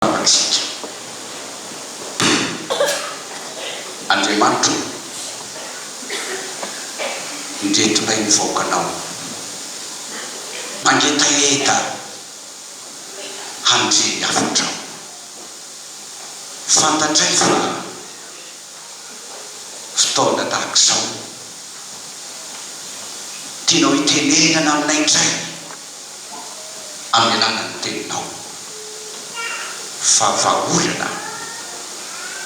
amintsika. Dia Andriamanitro ô, indretonay ny vahoakanao, mangetaheta handre ny hafatrao. Fantatray fa fotoana tahaka izao tianao hitenenana aminay indray. hamelana ny teninao fa vahaolana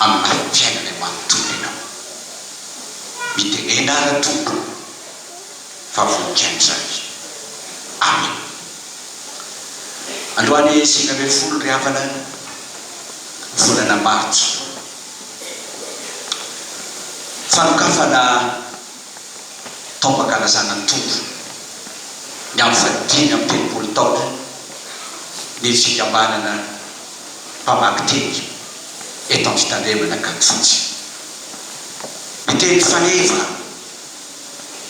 amin'ny lafim-piainana manontolo ianao. Mitenena ary Tompo fa voninkaina izany aminy. Androany sivy ambin'ny folo ry havana volana martsa fanokafana. taom-pankalazana ny Tompo ny amin'ny fahadimy amby telopolo taona ny fikambanana mpamaky teny eto amin'ny fitandremana Ankadifotsy. Ny teny faneva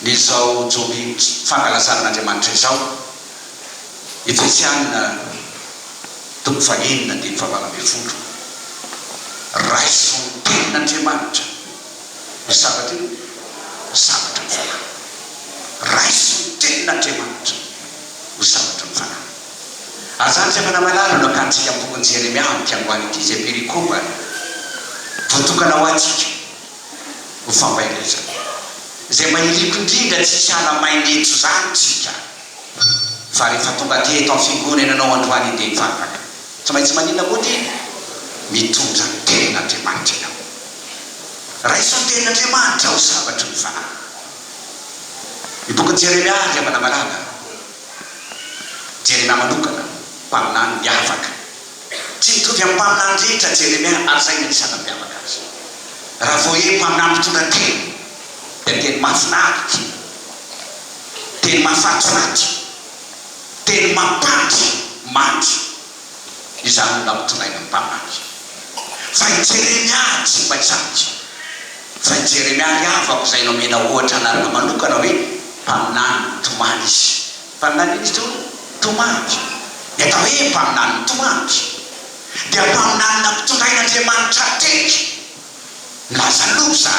ny izao joby fankalazana an'Andriamanitra izao, Efesiana toko fahenina andininy fahavalo ambin'ny folo, Raiso ny tenin'Andriamanitra. Io zavatra io ho zavatra ny fanahy. Raiso ny Tenin'Andriamanitra ho zavatra ny fanahy. Ary izany izay manamalala no hakantsika amin'ny bokin'i Jeremia amin'ity androany ity, izay perikopa voatokana ho antsika ho fampaherezana, izay mahiriko indrindra tsy hiala main'eto izany tsika. Fa rehefa tonga aty eto am fimgorenanao androany ndeha hivavaka. Tsy maintsy maninona moa ty? Mitondra ny tenin' Andriamanitra ianao. Raiso ny tenin' Andriamanitra ho sabatry ny fanahy. Ny bokin' i Jeremia ry havana malala. Jeremia manokana, mpaminany miavaka. Tsy mitovy amin' ny mpaminany rehetra Jeremia ary izay no anisan' nampiavaka azy. Raha vao hoe mpaminany mpitondra teny dia teny mahafinaritra. Teny mafatifaty, teny mampandry mandry izany no nampitondrainy ny mpamangy. Fa i Jeremia ary tsy mba izany. Fa i Jeremia ary havako izay nomena ohatra anarana manokana hoe mpaminany mitomany izy. Mpaminany inona izy teo? Mitomany. Ny atao hoe mpaminany mitomany dia mpaminany nampitondrain'Andriamanitra teny milaza loza.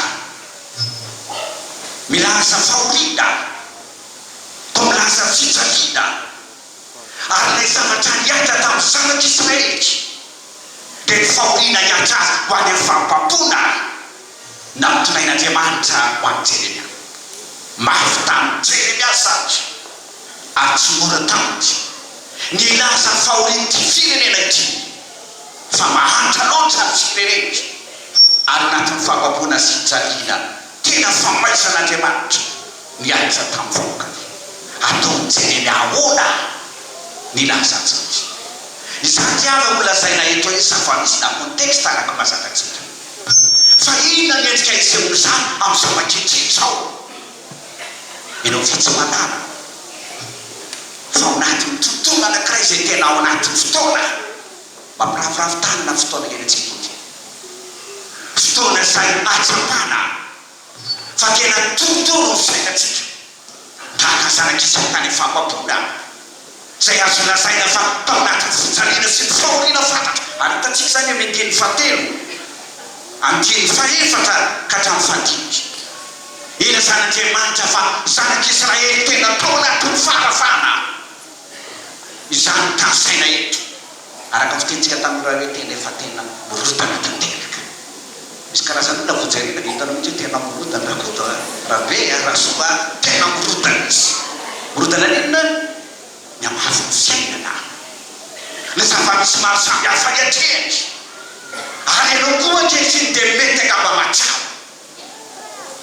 Milaza fahoriana toa milaza fijaliana ary ilay zavatra niainga tamin'ny zanak'i Israelika dia ny fahoriana hihatra azy ho any amin'ny fahampampoana nampitondrain'Andriamanitra ho an'i Jeremia. Mafy tamin'i Jeremia satry ary tsy mora taminy ny hilaza ny fahorian'ity firenena ity. fa mahantra loatra ny fipereniko ary natiny fababoana sy hijaliana tena famaizan' Andriamanitra ny ahiza tamin'ny vahoakany. Ataon'i Jeremia ahoana nilaza an'izany? Izany dia avy amin'ny lazaina eto iny zava-misy-na contexte araka mazaka tsika. Fa inona ny endrika isehon'izany amin'izao ankehitriny izao? eny amin'ny fitsoahanana fa ao anatin'ny tontolo anankiray izay tena ao anatin'ny fotoana mampiravoravo tany na fotoana iainantsika ity. Fotoana izay ahatsapana fa tena torotoro ny fiainantsika tahaka zanak'Isaka any am-fampam-poana. izay azo lazaina fa tao anatin'ny fijaliana sy ny fahoriana fatratra, ary hitantsika izany amin'ny andininy fahatelo, andininy fahefatra ka hatramin'ny fahadimy. Ilazan'Andriamanitra fa zanak'Israely tena tao anatin'ny fahafahana izany tanisaina eto. Araka ny fitenintsika tamin'ireo anie tena efa tena mirodana tanteraka. Misy karazan'olona vao jerena dia hitanao mihitsy hoe tena mirodana Rakoto a, Rabe a, Rasoa a, tena mirodana izy. Mirodana ny inona? Ny hamafin'ny fiainana, ny zava-misy maro samihafa iatrehany. Ary ianao koa ankehitriny dia mety angamba mahatsapa.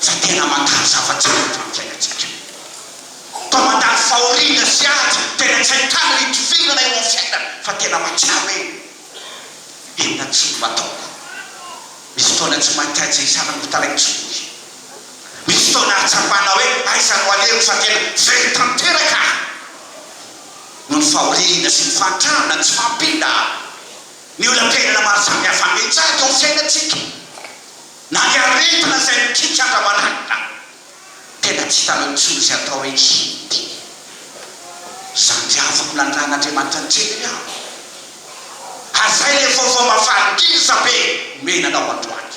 fa tena mandalo zava-tsara eto amin'ny fiainantsika. Toa mandalo fahoriana sy ady tena tsy ahitana ny hidivirana eo amin'ny fiainana fa tena mahatsiaro hoe inona tsiny no ataoko. Misy fotoana tsy mahita izay hisaran'ny otalaiko tsy vory. Misy fotoana hahatsapana hoe aiza no alehako fa tena very tanteraka aho noho ny fahoriana sy ny fahantrana tsy mampita. Ny olam-piainana maro samihafa miha-mitsahatra eo amin'ny fiainantsika. Na ny aretina izay mikiky andra-maraina tena tsy hitanao intsony izay atao hoe Hindi. Izany dia afaka ho lanjain'Andriamanitra an-tsehatra ihany. Hazay ilay vaovao mahafaha-liza be omena anao androany.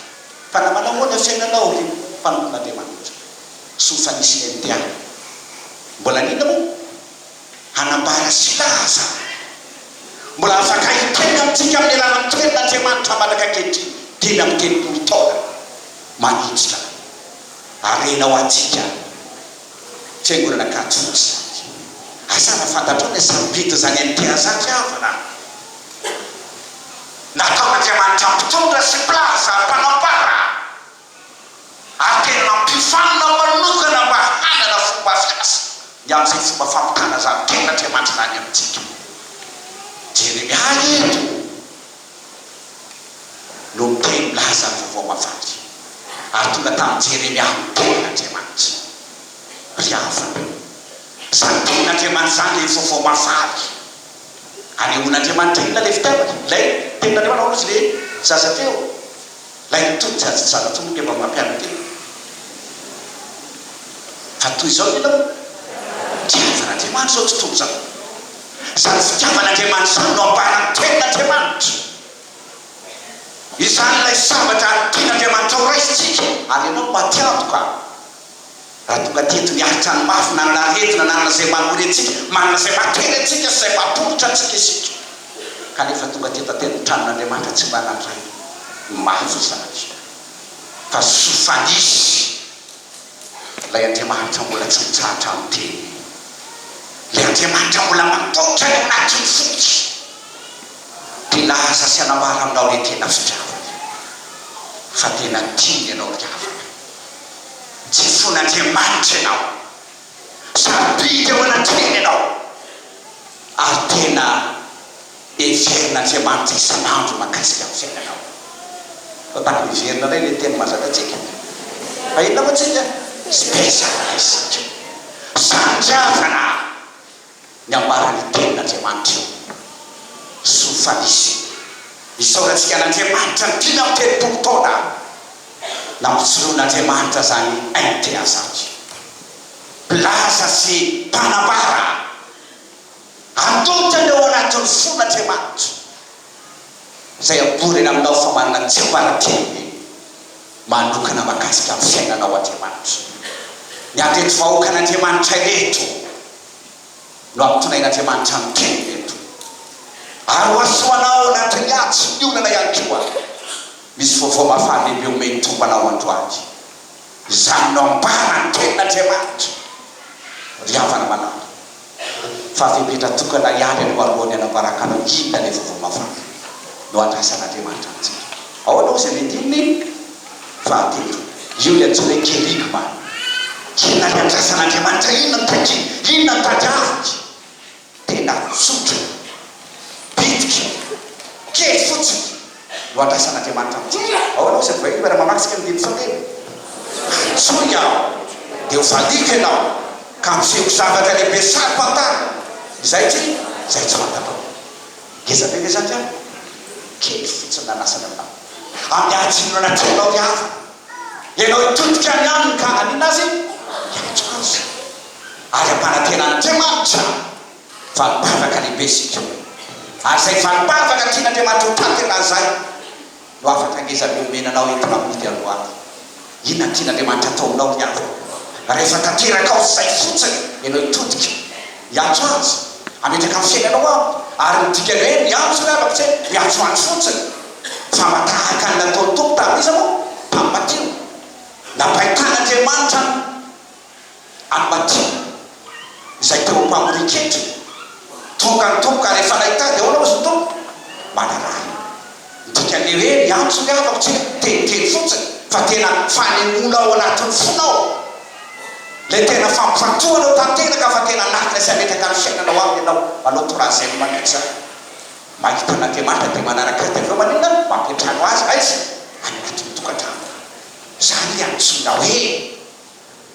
Fa na manao ahoana ny fiainanao ry mpanompon'Andriamanitra, soa fa nisy ny MTA. Mbola liana moa? Hanambara sy hilaza ny mbola afaka hiteraka amintsika amin'ny alalan'ny Tenin'Andriamanitra mandraka ankehitriny dimy amby telopolo taona manitsitra harena ho antsika ny Fiangonana Katolika. Asa raha fantatrao ny asam-bidin'izany an'i Teazakya havana nataon'Andriamanitra mpitondra sy mpilaza ary mpanambara. ary tena nampifanina manokana mba hanana fomba fiasa ny amin'izay fomba fampitana izany tenin'Andriamanitra izany amintsika. Jeremia eto no miteny milaza ny Vaovao Mavandy, ary tonga tamin'i Jeremia ny tenin'Andriamanitra. Ry havana, izany tenin'Andriamanitra izany ilay Vaovao Mavandy. Anehoan'Andriamanitra inona ilay fitiavany? Ilay tenin'Andriamanitra, hoy izy ilay zaza teo. Ilay tony tsy azo tsara tony rehefa mampianatra teny hoe Fa toy izao ny lalao ny fitiavan'Andriamanitra izao tontolo izao. Izany fitiavan'Andriamanitra izany no ampahana ny tenin'Andriamanitra. Izany ilay zavatra tian'Andriamanitra horaisitsika ary ianao no matiantoka. Raha tonga teto niaritra ny mafy, nanana aretina, nanana izay manory antsika, manana izay makeny antsika sy izay mampoitra antsika isika, kanefa tonga teto an-tenin-tranon'Andriamanitra tsy mba nandray ny mafy izany, fa soa fa nisy Ilay Andriamanitra mbola tsy mitsahatra miteny, Ilay Andriamanitra mbola mampoitra ny ao anatin'ny foko, dia hilaza sy hanambara aminao ilay tena fitiavany, fa tena tiany ianao ry havana. Jesoan'Andriamanitra ianao. Sarobidy ao anatrehany ianao. Ary tena heverin'Andriamanitra isan'andro mahakasika ny fiainanao. Fa tokony heverina indray ilay teny mahazakatsika. Fa inona moa tsika? Tsy te hizaka isika. Sarotra avana. ny ambaran'ny Tenin'Andriamanitra io. Soa fa nisy io. Isaorantsika an'Andriamanitra ny dimy amby telopolo taona nampijoroan'Andriamanitra izany aim-pihary izany. Mpilaza sy mpanambara antonta ny ao anatin'ny fon'Andriamanitra. izay abory eny aminao fa manana tsiambaratelo manokana mahakasika ny fiainanao Andriamanitra. Ny andreto vahoakan'Andriamanitra ireto no hampitonain'Andriamanitra ny teniny eto. Ary ho hasoanao nandry ny atsy ny orana ihany koa. Misy vaovao mahafaha-lehibe omeny tompo anao androany. Izany no ambara ny tenin'Andriamanitra ry havana malala. fa fepetra tokana ihany aloha alohan'ny hanambaran-kanao inona ilay vaovao mahafaly no andrasan'Andriamanitra amintsika. Ahoana hozy ny andininy fahatelo? Io ilay antsoina hoe kerygma. Inona ilay andrasan'Andriamanitra? Inona no takiany? Inona no tadiaviny? Tena tsotra, bitika, kely fotsiny. no andraisan'Andriamanitra amintsika. Ahoana hoy izany vahiny raha mamaky isika ny Teny sao dia antsoiny aho dia ho valiako ianao ka hampisehoako zavatra lehibe saro fantaro izay tsy izay tsy fantatrao. Ngeza ve ve izany ry havana? Kely fotsiny na lasany aminao. Ampianjino anaty anao ry havana. Ianao hitodika any aminy ka hanina azy hiantso azy ary hampanantena an'Andriamanitra. Valim-panjaka lehibe isika, ary izay valim-panjaka tian'Andriamanitra ho tantena izay no hafatra ngeza mihomehy nanao entina mody androany. Inona no tian'Andriamanitra hataonao ry havana, rehefa tanterakao izay fotsiny ianao hitodika? Hiantso Azy hametraka ny fiainanao Aminy, ary ny dikan'ny hoe miantso ry havako tsy hoe miantsoantso fotsiny, fa mba tahaka ny nataon'ny Tompo tamin'iza moa? tamin'ny maty io. Nampaintàn'Andriamanitra an'i. an'i Matia izay teo am-pamorian-ketra, Tonga ny Tompo ka rehefa nahita dia ahoana hozy ny Tompo? Manaraha. Ny dikan'ny hoe miantso ny havako tsy hoe teniteny fotsiny fa tena fanemoana ao anatin'ny fona ao ilay tena fampifantohana ao tanteraka fa tena anatina sy ametraka ny fiainanao aminy ianao manao troisième manitsy ahy mahita an'Andriamanitra dia manaraka Azy dia avy eo maninona? mampiantrano Azy aiza? any anatin'ny tokantranoko. Izany ilay antsoina hoe.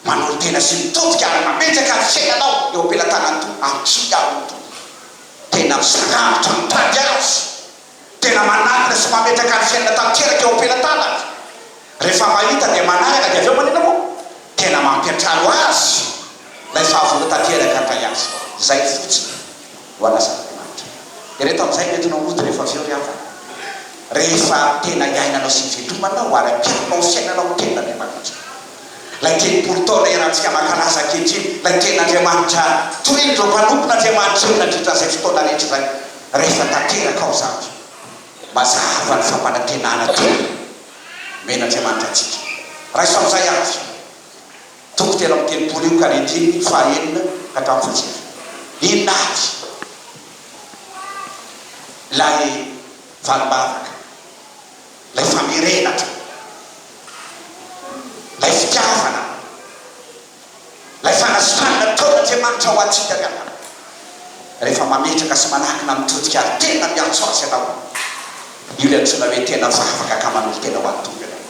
Manolo tena sy mitodika ary mametraka ny fiainanao eo am-pelatanan'i Tompo Antsoy aho ry Tompo Tena misarangotra mitady Azy Tena manatona sy mametraka ny fiainana tanteraka eo am-pelatanako Rehefa mahita dia manaraka dia avy eo manina moa Tena mampiantrano Azy Ilay fahavonona tanteraka handray Azy Izay fotsiny voalazan'Andriamanitra. Dia ireto amin'izay no entinao hody rehefa avy eo ry havana, rehefa tena iainanao sy ivelomanao ary ampianao ny fiainanao ny Tenin'Andriamanitra, ilay telopolo taona erantsika mankalaza ankehitriny, ilay Tenin'Andriamanitra torin'ireo mpanompon'Andriamanitra io nandritra an'izay fotoana rehetra izay, rehefa tanteraka ao izany, mazava ny fampanantenana tena nomen'Andriamanitra antsika. Raiso amin'izay avy. Toko telo amby telopolo io ka rindrininy fahaenina ka hatramin'ny fahasivy. Inona avy? Ilay valim-bavaka, ilay famerenatra, ilay fitiavana, ilay fanasitranana nataon'Andriamanitra ho antsika ry havana, rehefa mametraka sy manakina mitodika ary tena miantso Azy ianao. Io ilay antsoina hoe tena vavaka ka manolo-tena ho an'ny Tompo ianao.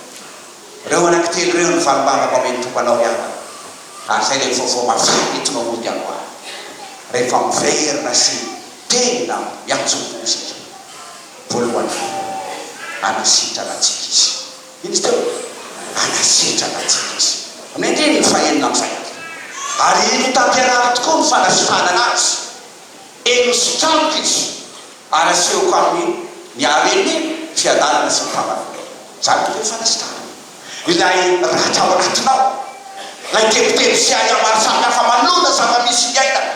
Ireo anankitelo ireo no fanombanako amin' ny Tompo anao ry havana, ary izay dia ny vaovao maventy tonga mody amboara, rehefa miverina sy tenina miantso-po isika. Voalohany indrindra, anasitrana antsika Izy. Inona izy teo? Anasitrana antsika Izy. Amin'ny andininy fahenina amby zato. Ary hita am-pianarana tokoa ny fanasitranana Azy. Eny, hositranoka Izy. Ary asehoko aminy ny haren'ny fiadanana sy ny fahavalonao. Izany ve no fanasitranana? Ilay ratra ao anatinao, ilay tebiteby sy ahiahy maro samihafa manona zava-misy iainana,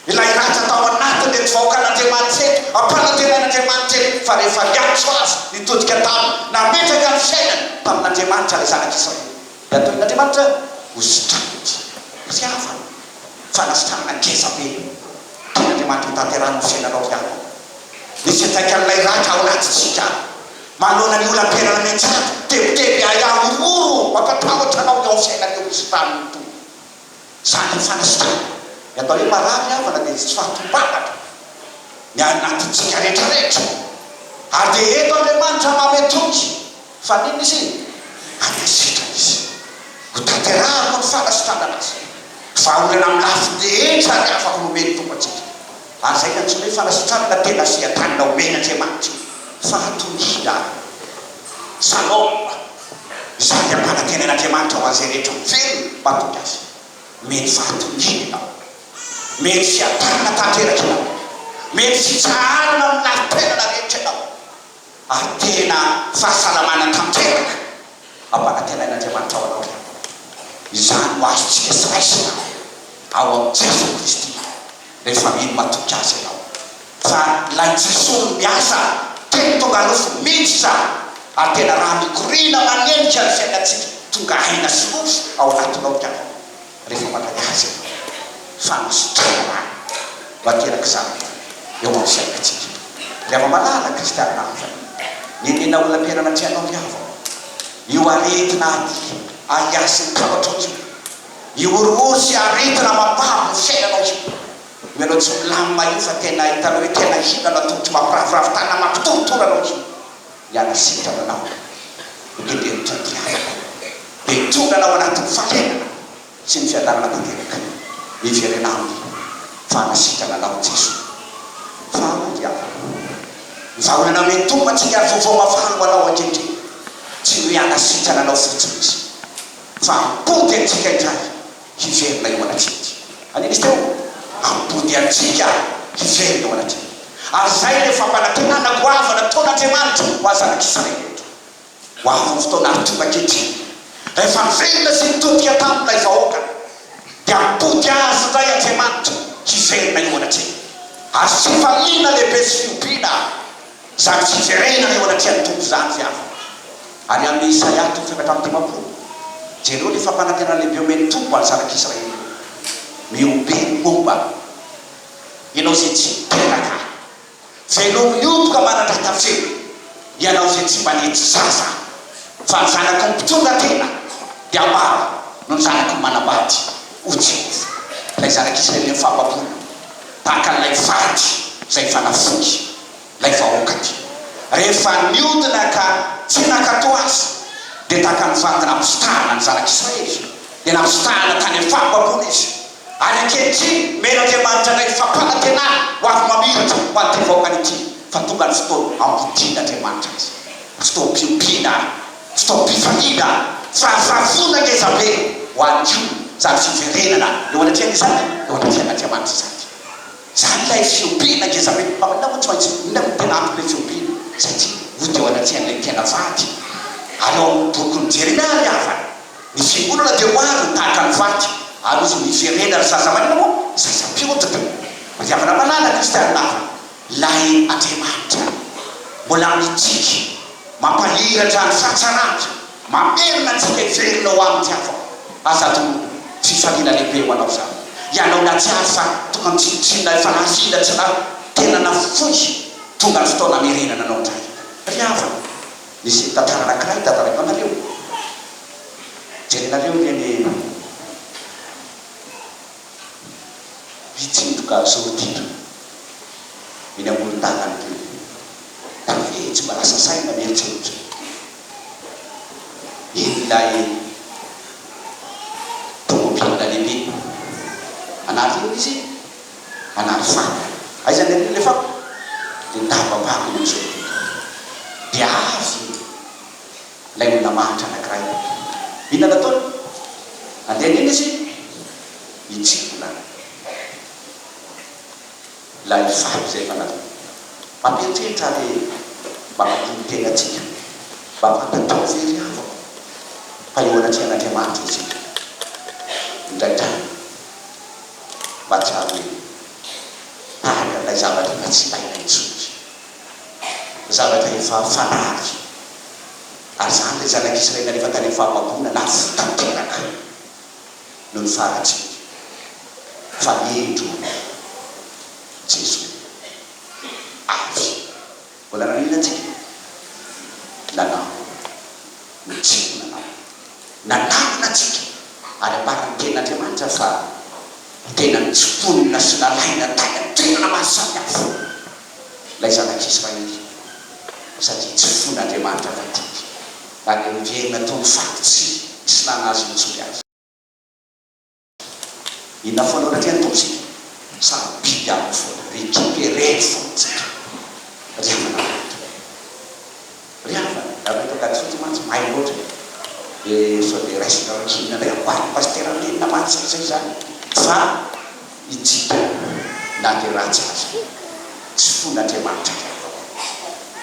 ilay ratra tao anatin'ireto vahoakan'Andriamanitra ireto, ampanantenain'Andriamanitra ireto fa rehefa niantso azy nitodika taminy, nametraka ny fiainany tamin'Andriamanitra ilay zanak'Israely. Ny ataon'Andriamanitra ho sitrapony, fitiavana, fanasitranana ngeza be. Tian'Andriamanitra hotanterahana ny fiainanao ihany ny fiantraikan'ilay ratra ao anatintsika. Manoloana ny olam-piainana miantsato, tebiteby, ahiahy, horohoro mampatahotra anao ny ao amin'ny fiainan'io misy rano io. Zany ny fanasitrana. Ny atao hoe marary havana dia tsy fahatombanana ny anatintsika rehetra rehetra. Ary dia eto Andriamanitra manome toky. Fa n'inona izy? Any amin'ny sitrany izy. Ho tanterahako ny fanasitranana azy. Vahaolana amin'ny lafiny rehetra ary afaka nomeny Tompo antsika. Lazaina tsy hoe fanasitranana na tena seha-drànina omen'Andriamanitra io fa hatonina. Salôme, Izany hampanantenan'Andriamanitra ho an'izay rehetra miverina mahatonga azy. Mety fahatoniana ianao. Mety seha-drànina tanteraka ianao. Mety fitsaharana amin'ny lafim-piainana rehetra ianao. ary tena fahasalamana tanteraka ampanantenain'Andriamanitra ao anao ihany. Izany no azontsika sy raisina ao amin'i Jesoa Kristy rehefa mino matoky Azy ianao. Fa ilay Jesoa no miasa teny tonga nofo mihitsy izany, ary tena raha mikoriana manenika ny fiainantsika tonga aina sy nofo ao anatinao ianao. rehefa mankalaza ny Fanasitranana no ateraka izany eo amin'ny fiainantsika. Ry ama-malala kristianina havana, nenena ho laperana tsy hanao ny havako, io aretina aty ahiahy ny traotrao io, io horohoro sy aretina mampavo ny fiainanao io, io ianao tsy milamina io fa tena hitanao hoe tena hina anao tongotro mampiravoravo tanana mampitorotoro anao io. Hiala sitra manao ny teterotra ny mpiavaka, dia tonga anao anatin'ny fahenana sy ny fiadanana tanteraka. Miverena aminy fa hanasitrana anao i Jeso. Faharoa dia ny vahaolana mety ho antsika ary vaovao mafana ho anao ankehitriny. Tsy hoe hanasitrana anao fotsiny Izy fa hamponty antsika indray. hiverina eo anatreha aty. Aninn izy teo? Am-body antsika hiverina eo anatreha. Ary izay ilay fampanantenana goava nataon'Andriamanitra ho azy zanak'i Israely eto. Ho avy ny fotoana ary tonga ankehitriny, rehefa niverina sy nitodika tamin'ilay vahoaka, dia hampody azy indray Andriamanitra hiverina eo anatreha. Azo tsy ifaliana lehibe sy fihobiana. Izany tsy hijerena eo anatrehan'ny Tompo izany ve aho? Ary amin'i Isaia toko efatra amby dimampolo, jereo ilay fampanantenana lehibe omen'ny Tompo ho an'ny zanak'Israely hoe, Mihobe ny momba ahy, ianao izay tsy niteraka ahy, veloma mihoboka manandrata feo, ianao izay tsy mba nety zaza aho, fa ny zanako mpitondra tena dia maro noho ny zanako manambady, hoy Jehovah. Ilay zanak'Israely nifambaboina tahaka an'ilay vaditra izay efa nafoy. lay vahoaka ty rehefa niodina ka tsy nakato azy de tahaka ny vady nampisitahana ny zanak' Israely de nampisitahana tany am fanompoam-bolo izy ary ankehitriny men' Andriamanitra indray fampanantenana ho avy mamiratra ho an' ty vahoakany ity fa tonga ny fotoana hampodian' Andriamanitra azy fotoam piompiana fotoam pifaliana firafirafoana ngeza be ho any ko zany fiverenana eo anatrehan' izany eo anatrehan' Andriamanitra izany. Izany ilay fiompiana, ngezambe mpaminany moa tsy maintsy ho inona no tena anton'ilay fiompiana? Satria ho teo anatrehan'ilay tena vady. Ary ao amin'ny boky ny Jeremia ary havany, ny fiangonana dia ho avy ho tahaka ny vady, ary ho miverena ry zaza maina moa zaza mpiondrika. Pitiavana malala kristianina havana ilay Andriamanitra mbola mitsiky mampahiratra ny fahatsarany. Mamerina antsika hiverina ho amin'ny Tiavao. Aza adinoy, fifaliana lehibe ho anao izany. Ianao nahatsiaro fa tonga ny tsinontsinona efa nahazo ila tsy lany, tena nafoy, tonga ny fotoana hamerenana anao indray. Ry havana, nisy nitantara anankiray dadalainao nareo. Jerenareo ireny mpitsindroka zorotiana eny amoron-dalana ireny. Tafehy tsy mba lasa saina ny herisetra. ilay tômôbila lehibe. Anaty inona izy? Anaty fako. Aiza ny an'iny ilay fako? Dia nidabam-pako iny amin'izao tontolo izao. Dia avy ilay olona mahantra anankiray. Inona no ataony? Andeha an'inona izy? Hitsingona. Ilay fako izay fanahy. Mampieritreritra ary mampitony tena antsika mba fantatrao ve ry havako fa eo anatrehan'Andriamanitra isika. Indraindray mahatsiaro hoe tahaka an'ilay zavatra efa tsy ilaina intsony isika. Zavatra efa fanary. Ary izany ilay zanak'Israely rehefa tany amin'ny fahababoana, lafo tanteraka. no ny fahatsika fa indro Jesoa avy. Mbola naninona antsika? Nanao ny tiany nanao. Nanangona antsika ary ambaran'ny Tenin'Andriamanitra fa ho tena nitsimponina sy nalaina tany an-toerana mahasamihafa. ilay zanak'Israely, satria tsy fon'Andriamanitra fa didy, ary noverenina toy ny faty tsy nisy nanazy nitsory azy. Inona foana no natrehan'ny Tompo isika? Samy biby aminy foana, récupérer ny fontsika, ry havana matoky. Ry havana, ianareo eto Ankadifotsy mantsy mahay loatra e! Dia sao dia raisinareo Chine indray amboarin'i Pasitera Nina mantsy izay izany fa itsika na dia ratsy aza tsy fon'Andriamanitra ny ataonay.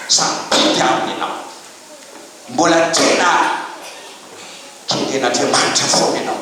Samy biby aminy ianao. Mbola tena keden'Andriamanitra foana ianao.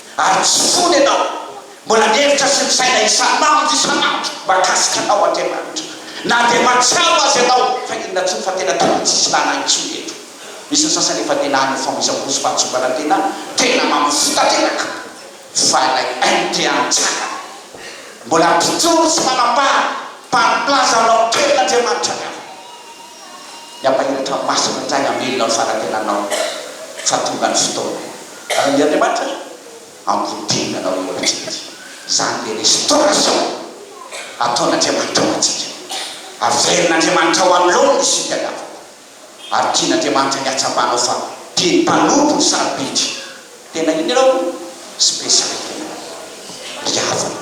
Ary tsy fony ianao. Mbola mihevitra sy misaina isan'andro isan'andro mahakasika anao Andriamanitra. Na dia mahatsiaro Azy ianao fa inona intsony fa tena taloha tsy nisy nanahy intsony eto. Misy ny sasany efa tena any ho famoizam-po sy fahatsongana tena, tena mamovo tanteraka. Fa ilay haino te hantsangana. Mbola mpijoro sy manampahana, mpari-plaza aminao kely Andriamanitra ny havana. Ny Ampahelotra Masina indray hamelona ny fanatenanao fa tonga ny fotoana. Ary Andriamanitra ry, hampodiana anao eo amintsika. Izany ilay restauration ataon'Andriamanitra ho antsika. Averin'Andriamanitra ho anoloany ny isika ny havana. Ary tian'Andriamanitra ny hatsapanao fa tiany mpanompo ny sarobidy. Tena iny ianao, specialité-nao ry havana.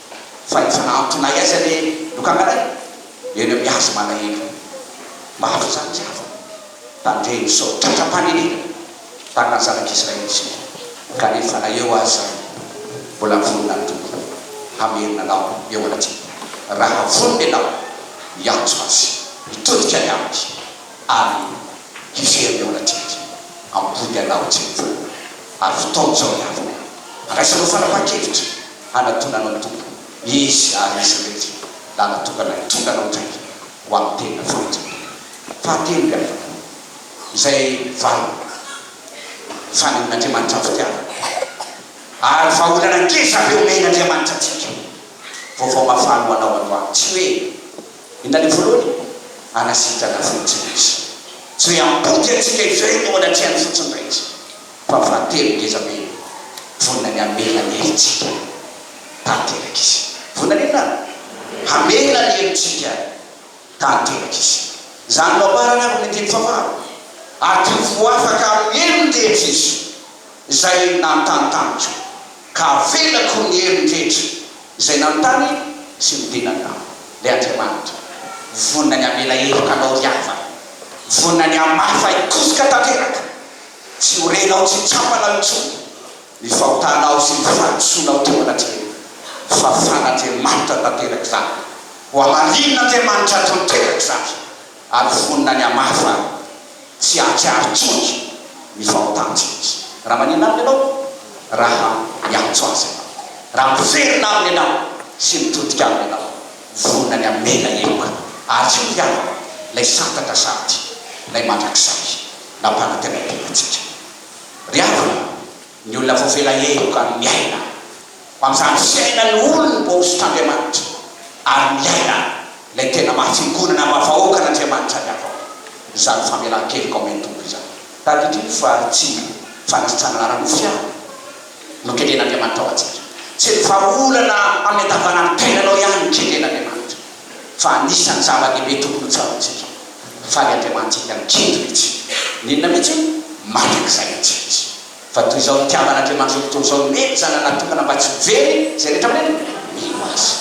fa ny fanampi na aiza le lokanganay eo ny amin'ny azy malahelo maro izany tsy afa tany re nisao tratram-panenenana tany na zanak'i Israely isika kanefa na eo aza izany mbola vonona ny Tompo hamerina anao eo anatrehany raha vonona ianao hiantso azy hitodika any aminy ary hiverina eo anatrehany ampody anao tsy mivoha ary fotoana izao ny havana handraisanao fanapahan-kevitra hanatonana ny Tompo, izy ary izy irery lahy natokana hitondana ho mpiray ho amin'ny tenina fahadisoana. Fahatelo ny afaka, izay valo fanehoan'Andriamanitra ny fitiavany ary vahaolana ngeza be omen'Andriamanitra antsika. Vaovao mafana ho anao androany, tsy hoe inona ny voalohany, hanasitrana fotsiny Izy. Tsy hoe hampody antsika izay no anatrehan'ny fotsiny rehetra. Fa fa telo ngeza be vonona ny hamela ny herintsika tanteraka izy. Vonona ny inona? Hamela ny herintsika tanteraka izy. Izany no ambarany avy amin'ny andininy fahavalo, Ato ho afaka hamely ny rehetra izy izay nanontany tamiko, ka havelako ny heriny rehetra izay nanontany sy nitenany tamiko. Ilay Andriamanitra vonona ny hamela heriko anao ry havana, vonona ny hamaha fahikozoka tanteraka Tsy ho renao tsy tsapana intsony ny fahotanao sy ny fahadisoanao teo anatrehan'ny fahafahan'Andriamanitra tanteraka izany. Ho hamalinin'Andriamanitra tanteraka izany ary vonona ny hamafa tsy hahatsiaro intsony ny fahotantsika Izy. Raha maninona Aminy ianao? Raha miantso Azy ianao, raha miverina Aminy ianao sy mitodika Aminy ianao, vonona ny hamela heloka ary tsy ho hiala Ilay santatra sady Ilay mandrakizay. nampanantenainteina antsika. Ry havana, ny olona voafela heloka no miaina. Ho amin'izany fiainan'ny olony voahosotr'Andriamanitra, ary miaina ilay tena maha fiangonana maha vahoakan'Andriamanitra ny avao izany famelan-keloka omen'ny Tompo izany. Tadidio fa tsy ny fanasitranana ara-nofo ihany no kendren'Andriamanitra ho antsika. Tsy ny vahaolana amin'ny andavanandro tenanao ihany no kendren'Andriamanitra. fa anisan'ny zava-dehibe tokony ho tsaroantsika fa ny Andriamanitsika no kentrina etsy. N'inona mihitsy hono? Maka izay antsika Izy. Fa toy izao nitiavan'Andriamanitra io tontolo izao, nomeny Zanany natokana mba tsy ho very izay rehetra mino Azy.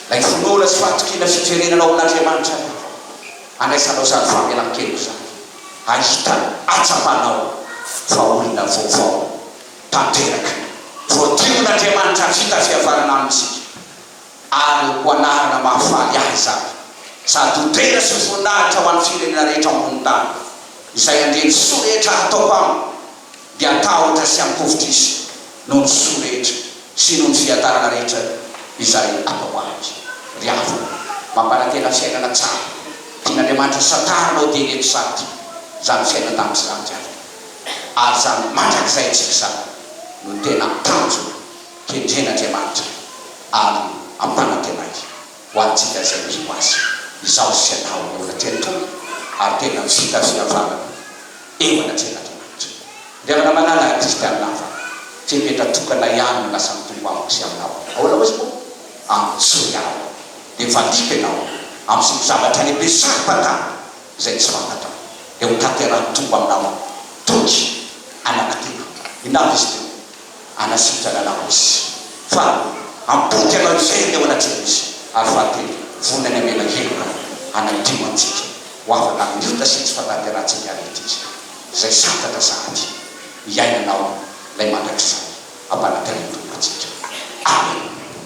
Ilay finoana sy fahatokiana fiverenana ao amin'Andriamanitra ihany koa handraisanao izany famelan-keloka izany, hahitana, hahatsapanao fa olona vaovao tanteraka, voadion'Andriamanitra vita fihavanana aminy isika. ary ho anarana mahafaly ahy izany, sady ho tena sy voninahitra ho an'ny firenena rehetra ao ambonin'ny tany. Izay handre ny soa rehetra hataoko aminy dia hatahotra sy hampihovitra izy noho ny soa rehetra sy noho ny fiadanana rehetra izay ataoko azy. Ry havana, mampanantena fiainana tsara tian'Andriamanitra santarina ao dia ireto sady, izany fiainan-danitra izany ry havana, ary izany mandrakizay antsika izany no tena tanjona. kendren'Andriamanitra ary ampanantenainy ho antsika izay mpino Azy. Izaho sy ianao no olona tena tonga ary tena vita fihavanana eo anatrehan'Andriamanitra. Ry havana malala kristianina hafa, fepetra tokana ihany no lasa mitombo amiko sy aminao. Ahoana moa izy moa? Antsoy aho, dia valiako ianao amin'ny zoto-javatra lehibe saro-pantany izay tsy fantatrao, dia ho tanterahin'ny Tompo aminao aho. Toky, anako tena. Inona avy izy ireo? Hanasitrana anao Izy. Faha amboty anao izay ny eo anatrehan' Izy. Ary fahatelo, vonona ny hamela heloka hanadio antsika ho afaka amin'ny ota sy ny tsy fahatanterahantsika ary ity Izy izay santatra sahady hiaina anao ilay mandrakizay ampanantenain-Tompo antsika. Amena.